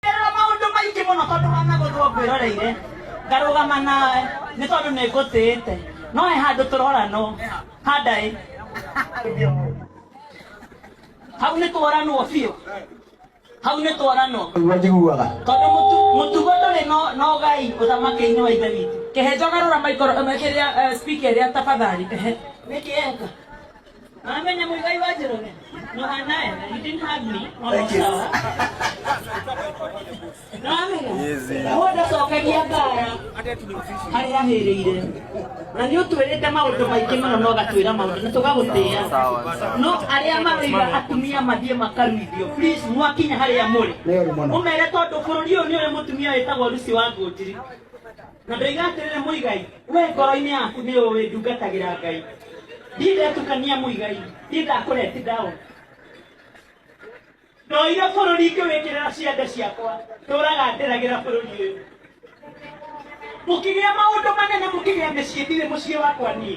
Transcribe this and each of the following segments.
Ngerera maũndũ maingĩ mũno tondũ wanagũthwo ngwĩroreire ngarũgama nawe nĩ tondũ nĩ ngũtĩĩte no he handũ tũroranwo handaĩ hau nĩ tworanwo biũ hau nĩ tworanwo Nĩguo njiguaga. tondũ mũtu- mũtugo ndũrĩ no- na ũgai ũthamaki-inĩ wa ithe witũ kĩhĩnjo garũra maikoro kĩrĩa eh, speaker ĩrĩa tafadhali ehe nĩkĩ eka Amenya muigai wa Jerome. No anaye, he didn't hug me. Thank you. No amenya. Na wenda cokagia ngara harĩa ahĩrĩire. Na nĩ ũtwĩrĩte maũndũ maingĩ mũno na ũgatwĩra maũndũ na tũgagũtĩa. No arĩa marĩiga atumia mathiĩ makaruithio. Please mwakinya harĩa mũrĩ. Nĩ ũru mũno. Mũmere tondũ bũrũri ũyũ nĩ ũrĩ mũtumia wĩtagwo Lucy wa Ngũnjiri. Na ndoiga atĩrĩrĩ mũigai we ngoro-inĩ yaku nĩ ũĩ ndungatagĩra ngai ndiĩ ndetukania mũigai ndiĩ ndakũreti down ndoire bũrũri ngĩwĩkĩrĩra ciande ciakwa ndũraga ndĩragĩra bũrũri ũyũ mũkĩgĩa maũndũ manene mũkĩgĩa mĩciĩ ndirĩ mũciĩ wakwa niĩ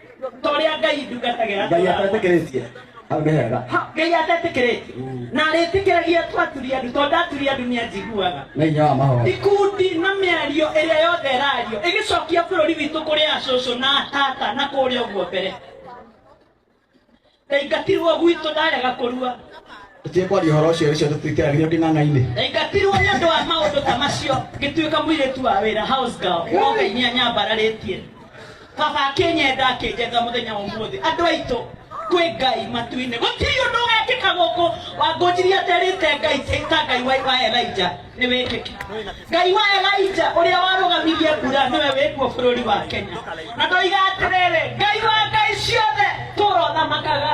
torĩa ngai ndungatagĩra ngai atetĩkĩrĩtie hau nĩ hega Ha, ngai atetĩkĩrĩtie Mm. na arĩtĩkĩragia twaturia andu tondũ ndaturia andu nĩ anjiguaga nĩ hinya wa mahoya ikundi na mĩario ĩrĩa yothe ĩrario ĩgĩcokia bũrũri witũ kũrĩ acũcũ na atata na kũrĩa ũguo mbere Ndaingatirwo gwitũ ndarega kũrua. Tũtige kwaria ũhoro ũcio rĩcio tũtiteragirio kĩng'ang'a-inĩ. Ndaingatirwo nĩ ũndũ wa maũndũ ta macio ngĩtuĩka mũirĩtu wa wĩra house girl. No Ngai nĩ anyambararĩtie. Baba akĩnyenda akĩnjetha mũthenya wa ũmũthĩ. Andũ aitũ kwĩ Ngai matu-inĩ. Gũtirĩ ũndũ ũgekĩka gũkũ. Wangũnjirie aterĩte Ngai ta Ngai wa wa Elijah. nĩ wĩkĩke ngai wa elija ũrĩa warũgamirie mbura nĩwe wĩkuo bũrũri wa kenya na ndoiga atĩrĩrĩ ngai wa ngai ciothe tũrothamakaga